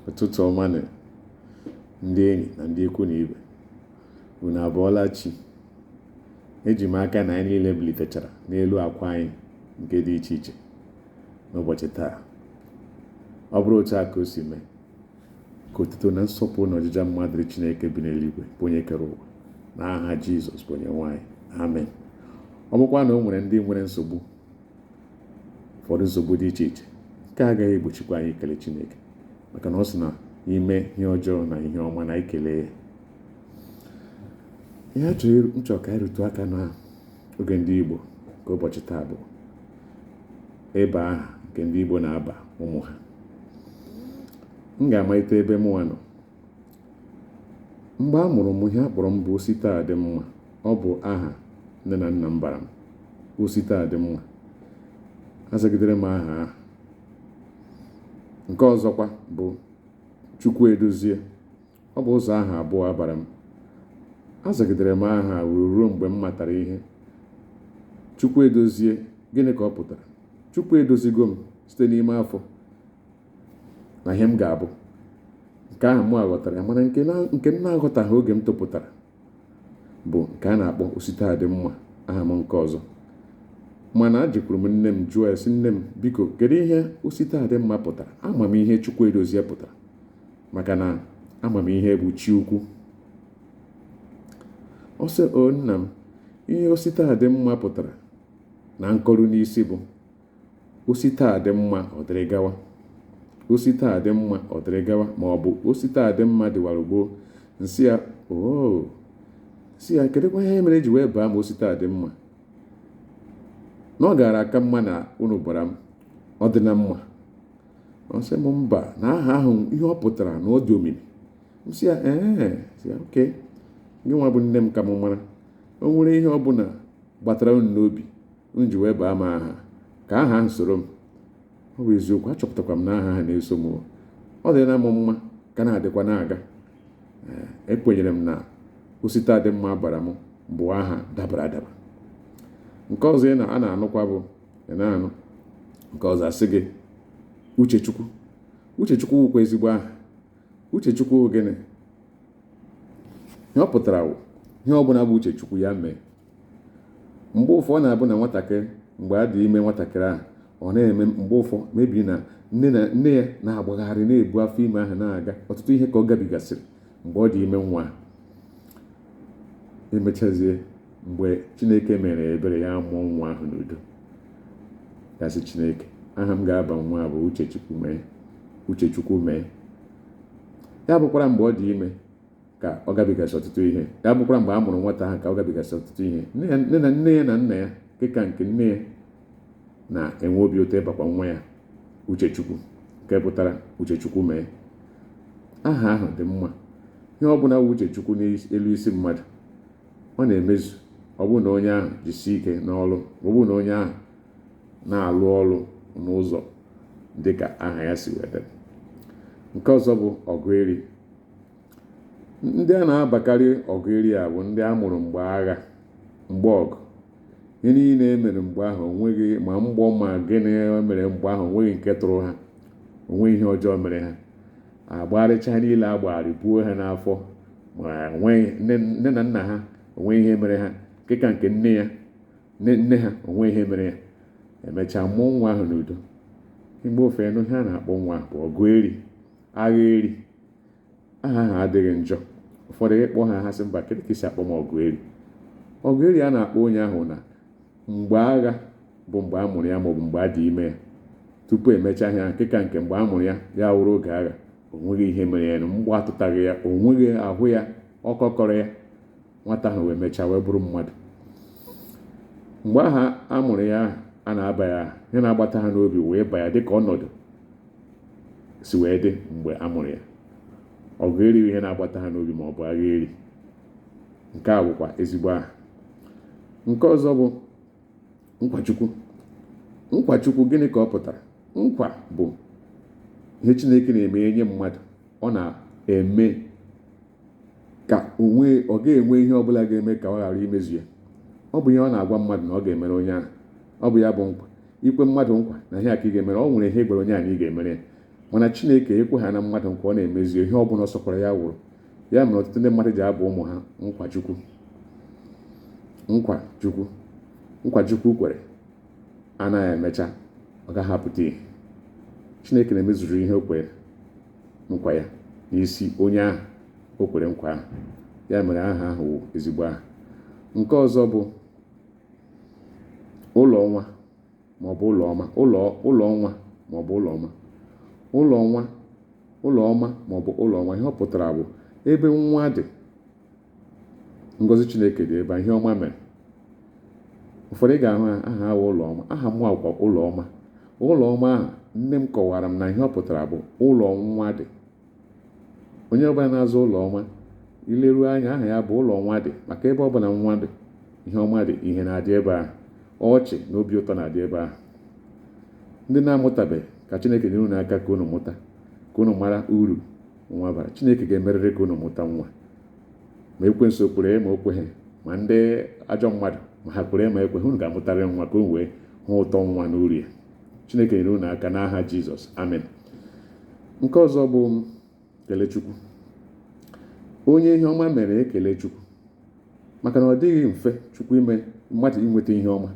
ụtụtụ ọma nụ ndị enyi na ndị ikwu na ibe unu abụọla chi eji m aka na anyị niile bilitechara n'elu akwa anyị nke dị iche iche n'ụbọchị taa ọ bụrụ otu a ka o si mee ka otuto na nsọpụrụ na ọjịja mma dịrị Chineke bi n'eluigwe bụ onye kere ụwa na aha Jizọs bụ onye nwe anyị amen ọ bụkwa na o nwere ndị nwere nsogbu ụfọdụ nsogbu dị iche iche nke agaghị egbochikwa anyị ikele Chineke maka na ọ sị na ime ihe ọjọọ na ihe ọma na ikele ya ihe a chọrọ m chọ ka anyị rụtụ aka na oge ndị Igbo nke ụbọchị taa bụ ịba aha nke ndị Igbo na-aba ụmụ ha m ga-amalite ebe mụnwa nọ mgbe a mụrụ m ihe a kpọrọ m bụ Ositadịmma ọ bụ aha nne na nna m bara m Ositadịmma azagidere m aha ahụ nke ọzọkwa bụ Chukwuedozie ọ bụ ụzọ aha abụọ a bara m azagidere m aha wee ruo mgbe m matara ihe Chukwuedozie gịnị ka ọ pụtara chukwu edozigo m site n'ime afọ na ihe m ga-abụ nke ahụ mụ aghọtara ya mana nke na- nke m na-aghọtaghị oge m topụtara bụ nke a na-akpọ Ositadịmma aha m nke ọzọ mana ejekwuru m nne m jụọ ya sị nne m biko kedu ihe Ositadịmma pụtara ama m ihe Chukwuedozie pụtara maka na ama m ihe bụ chi ukwu ọ sị o nna m ihe Ositadịmma pụtara na nkọrụ n'isi bụ o si taa dị mma ọ dịrị gawa o si taa dị mma ọ dịrị gawa ma ọ bụ o si taa dị mma dịwara gboo m sị ya oo sị ya kedụkwa ihe mere e ji wee baa m Ositadịmma na ọ gaara aka mma na unu bara m ọ dị na mma ọ sị m mba na aha ahụ ihe ọ pụtara na ọ dị omimi m sị ya ee sị ya okay gịnwa bụ nne m ka m mara o nwere ihe ọ bụla gbatara unu n'obi unu ji wee baa m aha ka aha ahụ soro m ọ bụ eziokwu achọpụtakwa m na aha ahụ na-eso m ọ dị na m mma ka na-adịkwa na-aga ekwenyere m na Ositadịmma a bara m bụ aha dabara adaba nke ọzọ ị na a na-anụkwa bụ ị na-anụ nke ọzọ a sị gị Uchechukwu Uchechukwu wụkwa ezigbo aha Uchechukwu gịnị ihe ọ pụtara wụ ihe ọbụla bụ uche chukwu ya mee mgbe ụfọ ọ na-abụ na nwatakịrị mgbe a dị ime nwatakịrị ahụ ọ na-eme mgbe ụfọ maybe na nne ya na-agbagharị na-ebu afọ ime ahụ na-aga ọtụtụ ihe ka ọ gabigasịrị mgbe ọ dị ime nwa ahụ. emechazie mgbe chineke mere ebere ya mụọ nwa ahụ n'udo ga-asị chineke aha m ga-aba nwa a bụ uchechukwu mee ya bụkwara mgbe ọ dị ime ka ọ gabigasị ọtụtụ ihe ya bụkwara mgbe a mụrụ nwata ahụ ka ọ gabigasị ọtụtụ ihe nne ya na nna ya nke ka nke nne ya na-enwe obi ụtọ ịbakwa nwa ya uchechukwu nke pụtara uchechukwu mee aha ahụ dị mma ihe ọ bụla wụ uchechukwu n'elu isi mmadụ ọ na-emezu ọ bụrụ na onye ahụ jisie ike n'ọlụ ọ bụrụ na onye ahụ na-alụ ọlụ n'ụzọ dịka aha ya si wee daa nke ọzọ bụ ọgụ eri ndị a na-abakarị ọgụ eri a bụ ndị a mụrụ mgbe agha mgbe ọgụ ihe niile e mere mgbe ahụ onweghị ma mgbọ ma gịnị e mere mgbe ahụ onweghị nke tụrụ ha onweghị ihe ọjọọ mere ha agbagharịcha niile agbagharị buo ha n'afọ ma nne na nna ha onweghị ihe mere ha nke ka nke nne ha onweghị ihe mere ya emechaa mụọ nwa ahụ n'udo mgbe ụfọ ị nụ ihe a na-akpọ nwa bụ ọgụ eri agha eri aha ahụ adịghị njọ ụfọdụ ị kpọọ ha ha sị mba kedụ ka i si akpọ m ọgụ eri ọgụ eri a na-akpọ onye ahụ na mgbe agha bụ mgbe a mụrụ ya maọbụ mgbe a dị ime ya tupu emechaa ihe nke ka nke mgbe a mụrụ ya ya wụrụ oge agha onweghị ihe mere ya mgbọ atụtaghị ya onweghị ahụ ya ọkọ kọrọ ya nwata ahụ wee mechaa wee bụrụ mmadụ mgbe ahụ a mụrụ ya a na-aba ya aha ihe na-agbata ha n'obi wee ba ya dịka ọnọdụ si wee dị mgbe a mụrụ ya ọgụ eri ihe na-agbata ha n'obi ma ọ bụ agha eri nke a wụkwa ezigbo aha nke ọzọ bụ nkwachukwu nkwachukwu gịnị ka ọ pụtara nkwa bụ ihe chineke na-eme nye mmadụ ọ na-eme ka ọ ga-enwe ihe ọbụla ga-eme ka ọ ghara imezu ya ọ bụ ihe ọ na-agwa mmadụ na ọ ga-emere onye ahụ ọ bụ ya bụ nkwa ikwe mmadụ nkwa na ihe a ka ị ga-emere ọ nwere ihe ị gwara onye ahụ na ị ga-emere ya mana chineke ekwe ha na mmadụ nkwa ọ na-emezu ihe ọ bụla ọ sọkwara ya wụrụ ya mere ọtụtụ ndị mmadụ ji aba ụmụ ha nkwachukwu nkwa chukwu kwere anaghị emecha ọ gaghị apụta ihe chineke na-emezuru ihe o kwere nkwa ya n'isi onye ahụ o kwere nkwa ahụ ya mere aha ahụ wụ ezigbo aha nke ọzọ bụ ụlọ nwa maọbụ ụlọ ọma ụlọ ụlọ nwa maọbụ ụlọ ọma ụlọ nwa ụlọ ọma maọbụ ụlọ nwa ihe ọ pụtara bụ ebe nwa dị ngozi chineke dị ebe ihe ọma mere ụfọdụ ị ga-ahụ aha ha wụ ụlọ ọma aha m wụkwa ụlọ ọma ụlọ ọma ahụ nne m kọwara m na ihe ọ pụtara bụ ụlọ nwa dị onye ọbụla na-aza ụlọ ọma i leru anya aha ya bụ ụlọ nwa dị maka ebe ọbụla nwa dị ihe ọma dị ihe na-adị ebe ahụ ọchị na obi ụtọ na-adị ebe ahụ ndị na-amụtabeghị ka chineke nyere unu aka ka unu mụta ka unu mara uru nwa bara chineke ga-emerịrị ka unu mụta nwa ma ekwensu kwere ma o kweghị ma ndị ajọ mmadụ ma ha kwere ma ekweghị unu ga-amụtarịrị nwa ka unu wee hụ ụtọ nwa na uru ya chineke nyere unu aka n'aha jizọs amen nke ọzọ bụ kelechukwu onye ihe ọma mere kelee chukwu maka na ọ dịghị mfe chukwu ime mmadụ inweta ihe ọma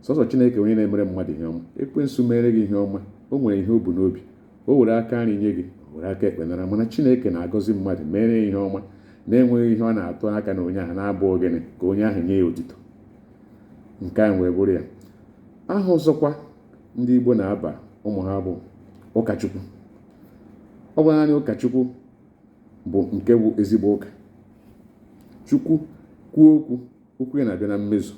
sọsọ chineke onye na-emere mmadụ ihe ọma ekwensu mere gị ihe ọma o nwere ihe o bu n'obi o were aka nri nye gị were aka ekpe nara mana chineke na-agọzi mmadụ mere ya ihe ọma na-enweghị ihe ọ na-atụ aka na onye ahụ na-abụghị naanị ka onye ahụ nye ya otito nke a wee bụrụ ya aha ọzọkwa ndị igbo na-aba ụmụ ha bụ ụkachukwu ọ bụ naanị ụka chukwu bụ nke bụ ezigbo ụka chukwu kwuo okwu okwu ya na-abịa na mmezu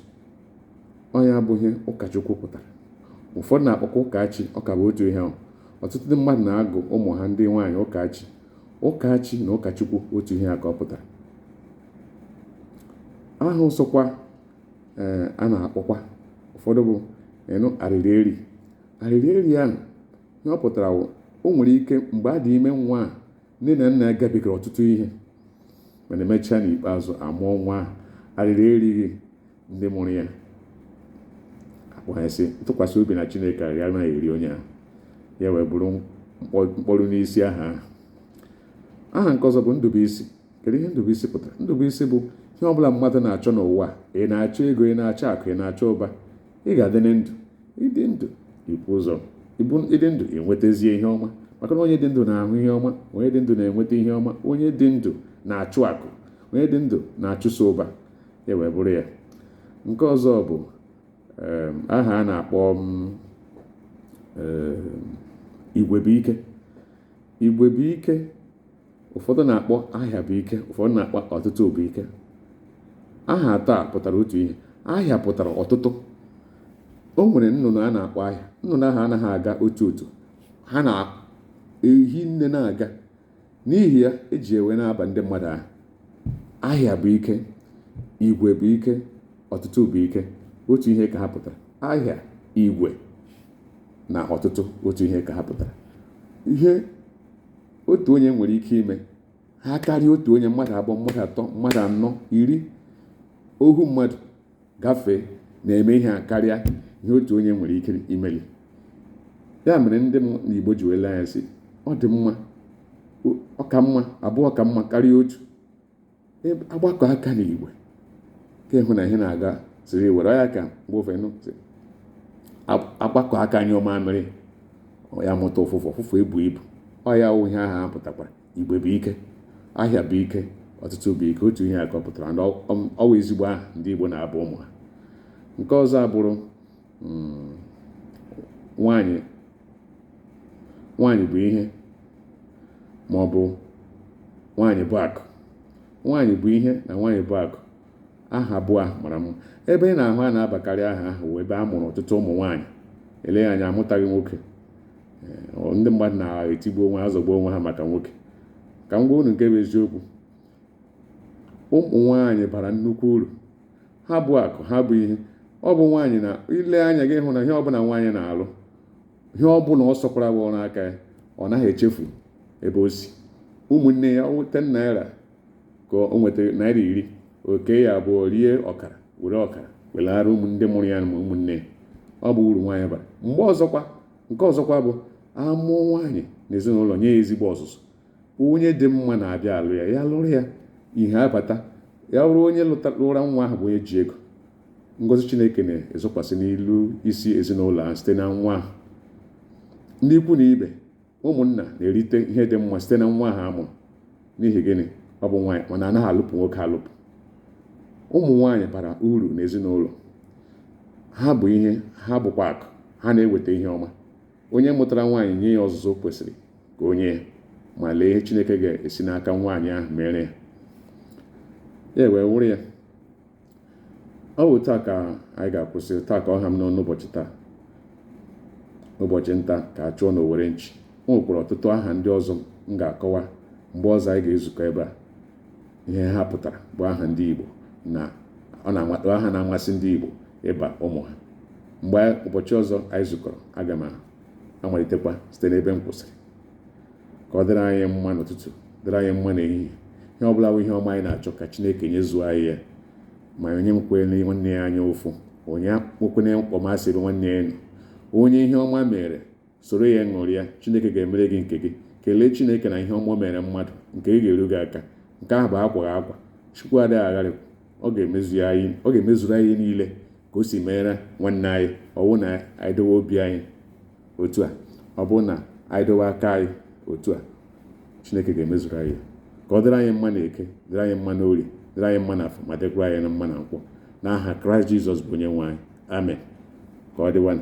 ọ ya bụ ihe ụkachukwu pụtara ụfọdụ na-akpọkwa ụkachi ọ ka bụ otu ihe ahụ ọtụtụ ndị mmadụ na-agụ ụmụ ha ndị nwaanyị ụkachi ụkachi na ụkachukwu otu ihe a ka ọ pụtara aha ọzọkwa ee a na-akpọkwa ụfọdụ bụ ịnụ arịrị eri arịrị eri ahụ ihe ọ pụtara wụ o nwere ike mgbe a dị ime nwa a nne na nna gabigara ọtụtụ ihe mana emechaa n'ikpeazụ a mụọ nwa ahụ arịrị erighị ndị mụrụ ya akpọghasị ntụkwasị obi na chineke arịrị anaghị eri onye ahụ ya wee bụrụ mkpụrụ n'isi aha ahụ aha nke ọzọ bụ ndụbụisi kedu ihe ndụbụisi pụtara ndụbụisi bụ ihe ọ bụla mmadụ na-achọ n'ụwa ị na-achọ ego ị na-achọ akụ ị na-achọ ụba ị ga-adị na ndụ ịdị ndụ ibu ụzọ ịdị ndụ e nwetazie ihe ọma maka na onye dị ndụ na-ahụ ihe ọma onye dị ndụ na-enweta ihe ọma onye dị ndụ na-achụ akụ onye dị ndụ na-achụso ụba ya wee bụrụ ya nke ọzọ bụ aha a na-akpọ igwe bụ ike igwe bụ ike ụfọdụ na-akpọ ahịa bụ ike ụfọdụ na-akpọ ọtụtụ bụ ike aha atọ a pụtara otu ihe ahịa pụtara ọtụtụ o nwere nnụnụ a na-akpọ ahịa nnụnụ ahụ anaghị aga otu otu ha na-ehi nne na-aga n'ihi ya eji ewe na-aba ndị mmadụ aha ahịa bụ ike igwe bụ ike ọtụtụ bụ ike otu ihe ka ha pụtara ahịa igwe na ọtụtụ otu ihe ka ha pụtara ihe otu onye nwere ike ime ha karịa otu onye mmadụ abụọ mmadụ atọ mmadụ anọ iri ohu mmadụ gafee na-eme ihe akarịa ihe otu onye nwere ike imeli ya mere ndị m n'igbo ji wee lee anya sị ọ dị mma ọ ka mma abụọ ka mma karịa otu agbakọ aka na igwe ka ịhụ na ihe na-aga siri were ya ka mgbe ofe nụ sị, "Ab- agbakọ aka nyụọ mamịrị ya mụta ụfụfụ ụfụfụ ebu ibu ọ ya wụ ihe aha a pụtakwara igwe bụ ike ahịa bụ ike ọtụtụ bụ ike otu ihe a ka ọ pụtara na ọ ọ wụ ezigbo aha ndị igbo na-aba ụmụ ha nke ọzọ abụrụ hmm. nwanyị nwanyị bụ ihe ma ọ bụ nwanyị bụ akụ nwanyị bụ ihe na nwanyị bụ akụ aha abụọ ahụ mara mma ebe ị na-ahụ a na-abakarị aha ahụ wụ ebe a mụrụ ọtụtụ ụmụ nwaanyị eleghị anya amụtaghị nwoke eh, ndị mmadụ na-etigbu onwe ha azọgbu onwe ha maka nwoke ka m gwa unu nke bụ eziokwu ụmụ nwaanyị bara nnukwu uru ha bụ akụ ha bụ ihe ọ bụ nwaanyị na i lee anya gị hụ na ihe ọbụla nwaanyị na-alụ ihe ọbụla ọ sọkwara bụ ọrụ aka ya ọ naghị echefu ebe o si ụmụnne ya ọ wụ ten naira ka o nwetara naira iri o kee ya abụọ rie ọkara were ọkara welara ndị mụrụ ya ma ụmụnne ya ọ bụ uru nwaanyị bara mgbe ọzọkwa nke ọzọkwa bụ a mụọ nwaanyị na ezinụlọ nye ya ezigbo ọzụzụ onye dị mma na-abịa alụ ya ya lụrụ ya ihe abata ya bụrụ onye lụra nwa ahụ bụ onye ji ego ngọzi chineke na-ezokwasị n'elu isi ezinụlọ ahụ site na nwa ahụ ndị ikwu na ibe ụmụnna na-erite ihe dị mma site na nwa ahụ a mụrụ n'ihi gịnị ọ bụ nwaanyị mana anaghị alụpụ nwoke alụpụ ụmụ nwaanyị bara uru n'ezinụlọ ha bụ ihe ha bụkwa akụ ha na-eweta ihe ọma Onye mụtara nwaanyị nye ya ọzụzụ o kwesịrị ka o nye ya ma lee ihe Chineke ga-esi n'aka nwaanyị ahụ mere ya ya wee wụrụ ya ọ bụ otu a ka anyị ga-akwụsị otu a ka ọ ha m n'ọnụ ụbọchị taa ụbọchị nta ka a chụọ n'owere nchi o nwekwara ọtụtụ aha ndị ọzọ m ga-akọwa mgbe ọzọ anyị ga-ezukọ ebe a ihe ha pụtara bụ aha ndị Igbo na aha na-amasị ndị Igbo ịba ụmụ ha mgbe ụbọchị ọzọ anyị zukọrọ aga m amalitekwa site n'ebe m kwụsịrị ka ọ dịrị anyị mma n'ụtụtụ dịrị anyị mma n'ehihie ihe ọ bụla bụ ihe ọma anyị na-achọ ka Chineke nyezuo anyị ya ma onye enwekwele nwanne ya anya ụfụ onye enwekwene mkpọmasị ebe nwanne ya nọ onye ihe ọma mere soro ya ṅụrịa chineke ga-emere gị nke gị kelee chineke na ihe ọma mere mmadụ nke gị ga-eru gị aka nke ahụ bụ akwaghị akwa chukwu adịghị agharị ọ ga-emezuru anyị niile ka o si meere nwanne anyị ọ wụ na anyị dowe obi anyị otu a ọ bụrụ na anyị dowe aka anyị otu a chineke ga-emezuru anyị ka ọ dịrị anyị mma na eke dịrị anyị mma na orie dịrị anyị mma na afọ ma dịkwara anyị na mma na nkwọ n'aha kraịst jizọs bụ onye nwe anyị amen ka ọ dịwanụ